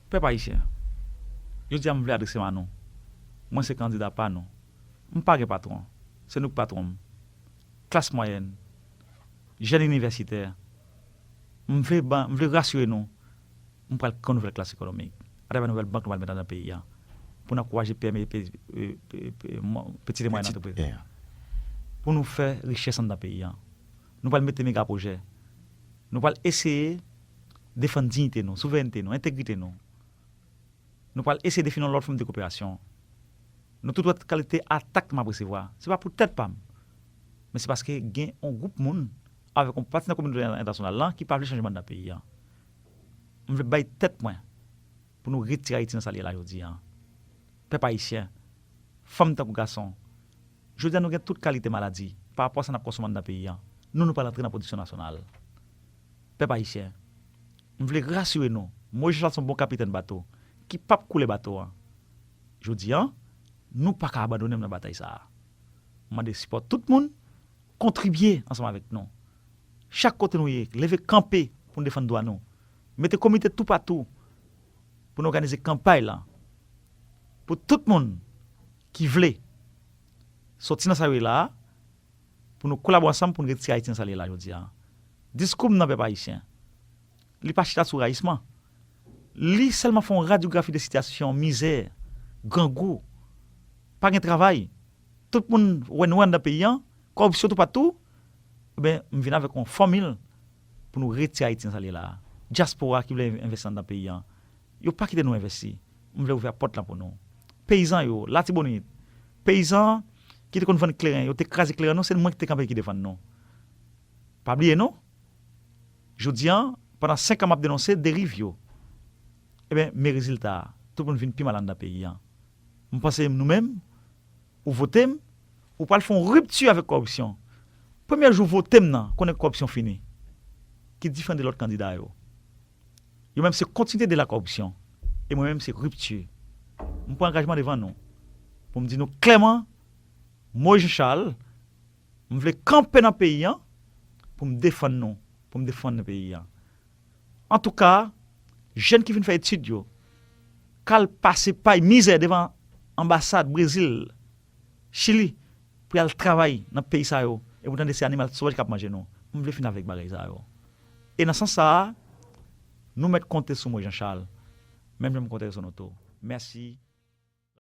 Pèp Ayisyen, Jodi a m vle adrese m a nou. Mwen se kandida pa nou. M pa gen patwon. Se nou ki patwon m. Klas mwayèn, jèn inivèsitè, m vle ban, m vle rasire nou, m pral kreye yon nouvèl klas ekonomik atravè nouvèl bank nou pral met anndan peyi a pou n ankouraje pème, pètite mwayèn antrepriz, pou nou fè richès anndan peyi a. Nou pral mete megapwojè. Nou pral eseye defann dignite nou, souverènte nou, entegrite nou. Nou pral eseye defini yon lòt fòm de koperasyon. Nou tout wè kalite atak m ap resevwa. Se pa pou tèt pa m, men se paske gen yon gwoup moun avèk yon pati nan kominote entènasyonal lan ki pa vle chanjman nan peyi a. M vle bay tèt mwen pou nou retire Ayiti nan sa li ye la jodi a. Pèp ayisyen, fanm tankou gason, Jodi a nou gen tout kalite maladi pa rapò a sa n ap konsonm anndan peyi an. Nou nou pral antre nan pwodiksyon nasyonal. Pèp ayisyen, m vle rasire nou, Moyiz Chachal son bon kapitèn bato ki p ap koule bato an. Jodi an, nou pa ka abandone m nan batay sa a. M mande sipò tout moun, kontribye ansanm avèk nou. Chak kote nou ye, leve kanpe pou n defann dwa nou. Mete komite toupatou pou n òganize kanpay lan pou tout moun. ki vle soti nan sa yo ye la a pou nou kolabo ansanm pou nou retire Ayiti nan sa li ye la jodi a. Diskou m nan pèp ayisyen, li pa chita sou rayisman. Li sèlman fè yon radyografi de sitiyasyon mizè, grangou, pa gen travay, tout moun wè nwè anndan peyi an, kòripsyon toupatou, enben m vin avèk yon fòmil pou nou retire Ayiti nan sa li ye la a. Dyaspora ki vle envesti anndan peyi an, yo pa kite nou envesti. M vle ouvè pòt lan pou nou. Peyizan yo, Latibonit, peyizan ki te konn vann kleren, yo te kraze kleren nou, se mwen ki te kanpe ki defann nou. Pa bliye non, jodi an, pandan senkan m ap denonse deriv yo, enben, men rezilta a, tout moun vin pi mal anndan peyi an. M panse nou menm, ou vote m, ou pral fè yon ripti avèk kòripsyon. Premye jou vote m nan, konnen kòripsyon fini. Ki diferan de lòt kandida yo. Yo menm se kontinite de la kòripsyon e mwen menm se ripti. Mwen pran angajman devan nou pou m di nou klèman mwen Jean Charles m vle kanpe nan peyi an pou m defann nou, pou m defann peyi an. Antouka, jèn ki fin fè etid yo k al pase pay mizè devan anbasad Brezil, Chili pou y al travay nan peyi sa yo e pou tande se animal sovaj k ap manje nou. Mwen vle fin avèk bagay sa yo. E nan sans sa a, nou mèt konte sou mwen Jean Charles, menm jan m konte sou nou tou. Mèsi.